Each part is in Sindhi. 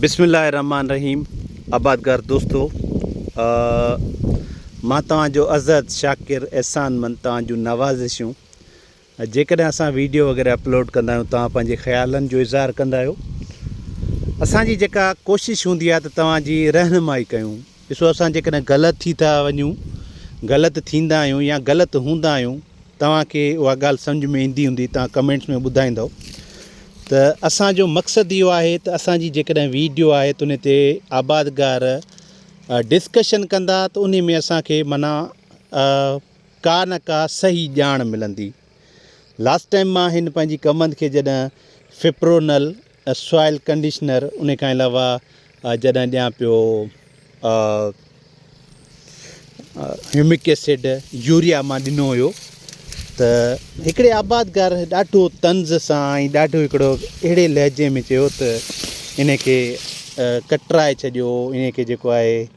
بسم الله الرحمٰن الرحيم آبادگار دوستو مان توهان جو عزت شاڪر احسان مند توهان جون نوازشون جيڪڏهن اسان ويڊيو وغيره اپلوڊ ڪندا آهيون توهان پنهنجي خيالن جو اظهار ڪندا آهيو اسان جي جيڪا ڪوشش هوندي آهي ته توهان جي رهنمائي ڪيون ڏسو اسان جيڪڏهن غلط ٿي ٿا وڃون، غلط ٿيندا آهيون يا غلط هوندا آهيون، توهان کي اها ڳالهه سمجهه ۾ ايندي هوندي توهان ڪمينٽس ۾ ٻڌائيندؤ ته اسان جو مقصد اهو آهي ته اسان جي جيڪڏهن ويڊيو آهي ته ان تي آبادگار ڊسڪشن ڪندا ته ان ۾ اسان کي معنيٰ ڪا نه ڪا صحيح ڄاڻ ملندي. لاسٽ ٽائيم مان هن پنهنجي ڪمند کي جڏهن فپرونل سوائل ڪنڊيشنر ان کان علاوه جڏهن ڏيان پيو هيومڪ ايسڊ يوريا مان ڏنو هيو ته هڪڙي آبادگار ڏاڍو طنز سان ۽ ڏاڍو هڪڙو اهڙي لهجي ۾ چيو ته ان کي ڪٽرائي ڇڏيو ان کي جيڪو آهي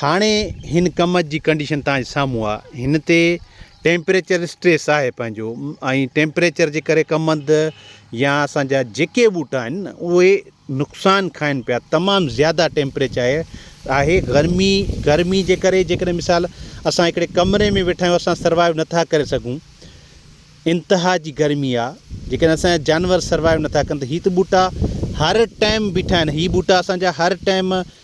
هاڻي هن ڪم جي ڪنڊيشن توهان جي سامهون آ هن تي ٽيمپريچر اسٽريس آهي پنهنجو ۽ ٽيمپريچر جي ڪري ڪمند يا اسانجا جيڪي ٻوٽا آهن اهي نقصان کائن پيا تمام زياده ٽيمپريچر آهي آهي گرمي گرمي جي ڪري جيڪڏهن مثال اسان هڪڙي ڪمري ۾ ويٺا آهيون اسان سروائيو نٿا ڪري سگهون انتها جي گرمي آ جيڪڏهن اسان جانور سروائيو نٿا ڪن ته هي ته ٻوٽا هر ٽائيم بيٺا آهن هي ٻوٽا اسانجا هر ٽائيم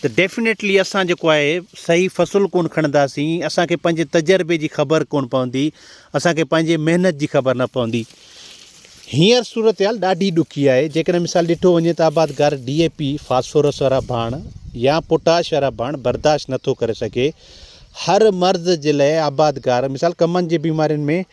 ته ڊيفنيٽلي اسان جيڪو آهي صحيح فصل ڪونه کڻنداسين، اسان کي پنهنجي تجربي جي خبر ڪونه پوندي، اسان کي پنهنجي محنت جي خبر نه پوندي. هينئر صورتحال ڏاڍي ڏکي آهي، جيڪڏهن مثال ڏٺو وڃي ته آبادگار ڊي اي پي، فاسفورس وارا ڀاڻ يا پوٽاش وارا ڀاڻ برداشت نٿو ڪري سگهي، هر مرض جي لاء آبادگار مثال ڪمن جي بيمارين ۾،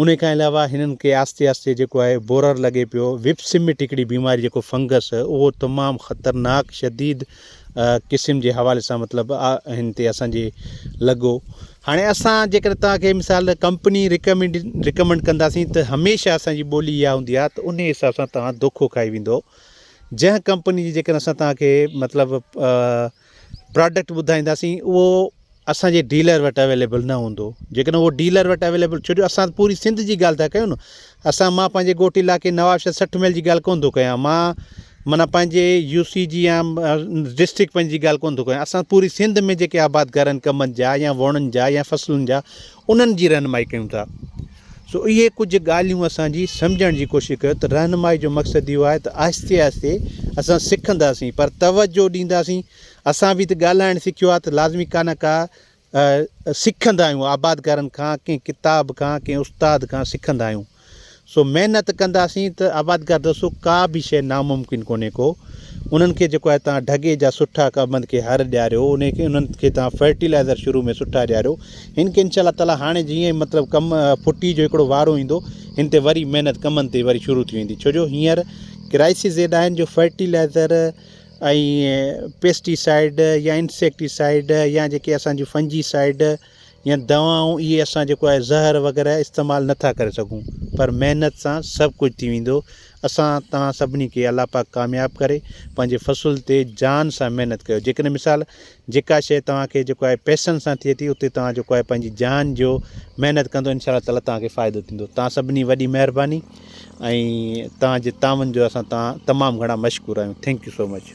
انهي کان علاوه هنن کي آهستي آهستي جيڪو آهي بورر لڳي پيو وپ سمٽ هڪڙي بيماري جيڪو فنگس اهو تمام خطرناڪ شديد قسم جي حوالي سان مطلب هن تي اسان جي لڳو هاڻي اسان جيڪڏهن توهان کي مثال ڪمپني ريڪمنڊ ريڪمنڊ ڪنداسين ته هميشه اسان جي ٻولي اها هوندي آهي ته ان حساب سان توهان دوکو کائي ويندو جنهن ڪمپني جي جيڪڏهن اسان توهان کي مطلب پراڊڪٽ ٻڌائينداسين اهو اسان جي ڊيلر وٽ اويليبل نه هوندو جيڪڏهن اهو ڊيلر وٽ اويليبل ڇو جو اسان پوري سنڌ جي ڳالهه ٿا ڪيون اسان مان پنهنجي ڳوٺ علاقي نوابشاهه سٺ ميل جي ڳالهه ڪون ٿو ڪيان مان مانا پنهنجي يو سي جي يا ڊسٽرڪ پنهنجي ڳالهه ڪون ٿو ڪيان اسان پوري سنڌ ۾ جيڪي آباد گارن ڪمن جا يا وڻن جا يا فصلن جا انهن جي رهنمائي ڪيون ٿا. سو اهي ڪجهه ڳالهيون اسان جي سمجهڻ جي ڪوشش ڪيو ته رهنمائي جو مقصد اهو آهي ته آهستي آهستي اسان سکنداسين پر توجهه ڏينداسين اسان به ته ڳالهائڻ سکيو آهي ته لازمي ڪا نه ڪا سکندا آهيون آبادگارن کان ڪنهن ڪتاب کان ڪنهن استاد کان سکندا آهيون سو محنت ڪنداسين ته آبادگار دوستو ڪا به شيء ناممڪن ڪونهي ڪو انهن کي جيڪو آهي توهان ڍڳي جا سٺا ڪا بند کي هر ڏياريو انهي کي انهن کي توهان فرٽيلائزر شروع ۾ سٺا ڏياريو هن کي انشاء الله تعالي هاڻي جيئن ئي مطلب ڪم ڦٽي جو هڪڙو وارو ايندو هن تي وري محنت ڪمن تي وري شروع ٿي ويندي ڇو جو هينئر ڪرائسس زيد آهن جو فرٽيلائزر ۽ پيسٽي سائيڊ يا انسيڪٽي سائيڊ يا جيڪي اسان جون فنجي سائيڊ ۽ دوائون اهي اسان جيڪو آهي زهر وغيره استعمال نه ٿا ڪري سگهون پر محنت سان سڀ ڪجهه ٿي ويندو اسان توهان سڀني کي الله پاڪ ڪامياب ڪري پنهنجي فصل تي جان سان محنت ڪيو جيڪڏهن مثال جيڪا شيء توهان کي جيڪو آهي پئسن سان ٿئي ٿي اتي توهان جيڪو آهي پنهنجي جان جو محنت ڪندو انشاء الله تعالی توهان کي فائدو ٿيندو توهان سڀني وڏي مهرباني ۽ توهان جي تعاون جو اسان تمام گهڻا مشڪور آهيون ٿينڪ يو سو مچ